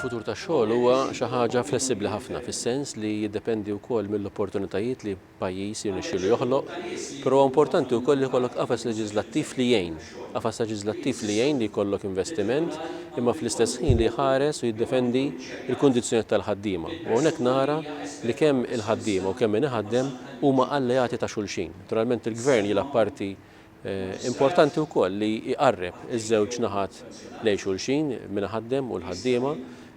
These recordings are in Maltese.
Il-futur tax-xogħol huwa xi ħaġa flessibbli ħafna fis-sens li jiddependi wkoll mill-opportunitajiet li pajjiż jirnexxielu joħloq, però huwa importanti wkoll li jkollok qafas leġiżlattiv li jgħin, qafas leġiżlattiv li jgħin li jkollok investiment imma fl-istess ħin li jħares u jiddefendi l-kundizzjonijiet tal-ħaddiema. U hawnhekk nara li kemm il-ħaddiema u kemm min iħaddem huma alleati ta' xulxin. Naturalment il-Gvern jilgħab parti Importanti wkoll li jqarreb iż-żewġ naħat lejn xulxin, min iħaddem u l-ħaddiema.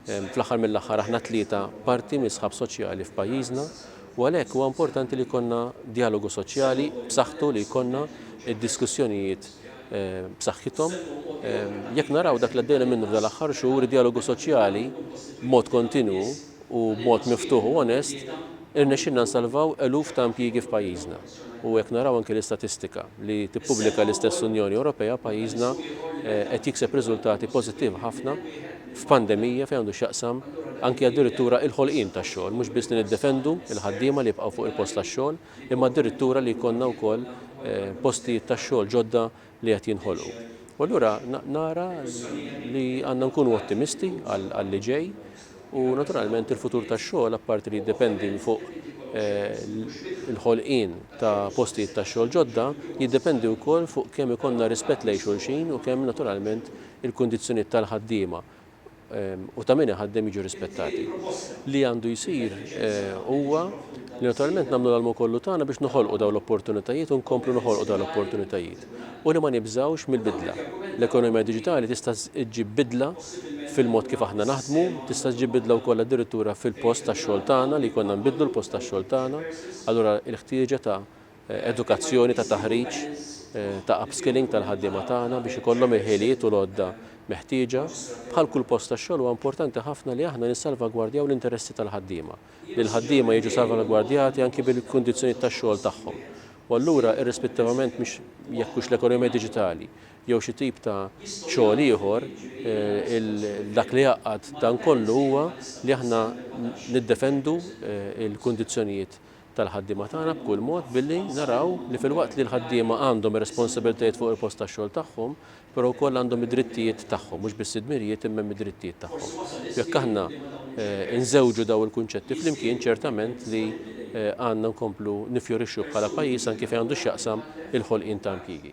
Fl-aħħar mill-aħħar aħna t-tlieta parti mis-sħab soċjali f'pajjiżna u għalhekk huwa importanti li jkollna djalogu soċjali b'saħħtu li jkollna d-diskussjonijiet b'saħħithom. Jekk naraw dak li għaddejna minnu f'dal-aħħar xhur, id-djalogu soċjali b'mod kontinwu u b'mod miftuħ u onest irnexxielna nsalvaw eluf ta' impjiegi f'pajjiżna. u jekk naraw anki l-istatistika li tippubblika l-istess Unjoni Ewropea, pajjiżna qed jikseb riżultati pożittivi ħafna f'pandemija fejn għandu x'jaqsam anki addirittura il-ħolqien tax-xogħol, mhux biss li niddefendu l-ħaddiema li jibqgħu fuq il-post tax-xogħol, imma addirittura li jkollna wkoll postijiet tax-xogħol ġodda li qed jinħolqu. U allura nara li għandna nkunu ottimisti għall-li ġej u naturalment il-futur tax-xogħol apparti li jiddependi fuq eh, il-ħolqien ta' postijiet ta' xogħol ġodda jiddependi wkoll fuq kemm ikollna rispett lejn xulxin u kemm naturalment il-kundizzjonijiet tal-ħaddiema u ta' min iħaddem jiġu rispettati. Li għandu jsir huwa li naturalment nagħmlu l-almu kollu tagħna biex noħolqu dawn l-opportunitajiet u nkomplu noħolqu dawn l-opportunitajiet u li ma nibżgħux mill-bidla. L-ekonomija diġitali tista' ġġib bidla fil-mod kif aħna naħdmu, tista' ġġib bidla wkoll addirittura fil-post tax-xogħol tagħna li jkollna nbiddlu l-post tax-xogħol tagħna, allura l-ħtieġa ta' edukazzjoni, ta' taħriġ, ta' upskilling tal-ħaddiema tagħna biex ikollhom il-ħiliet u l-għodda meħtieġa. Bħal kull post tax-xogħol huwa importanti ħafna li aħna nissalvagwardjaw l-interessi tal-ħaddiema, li l-ħaddiema jiġu salvalgwardjati anki bil-kundizzjonijiet tax-xogħol tagħhom. U allura irrispettivament mhux jekk hux l-ekonomija diġitali jew xi tip ta' xogħol ieħor, dak li jgħaqqad dan kollu huwa li aħna niddefendu l-kundizzjonijiet tal-ħaddiema tagħna b'kull mod billi naraw li filwaqt li l-ħaddiema għandhom ir-responsabbiltajiet fuq il-post tax-xogħol tagħhom, però wkoll għandhom id-drittijiet tagħhom, mhux biss id-dmirijiet imma hemm id-drittijiet tagħhom. U jekk aħna nżewġu dawn il-kunċetti flimkien ċertament li għandna nkomplu niffjorixxu bħala pajjiż anki fejn għandu x'jaqsam il-ħolqien ta' impjiegi.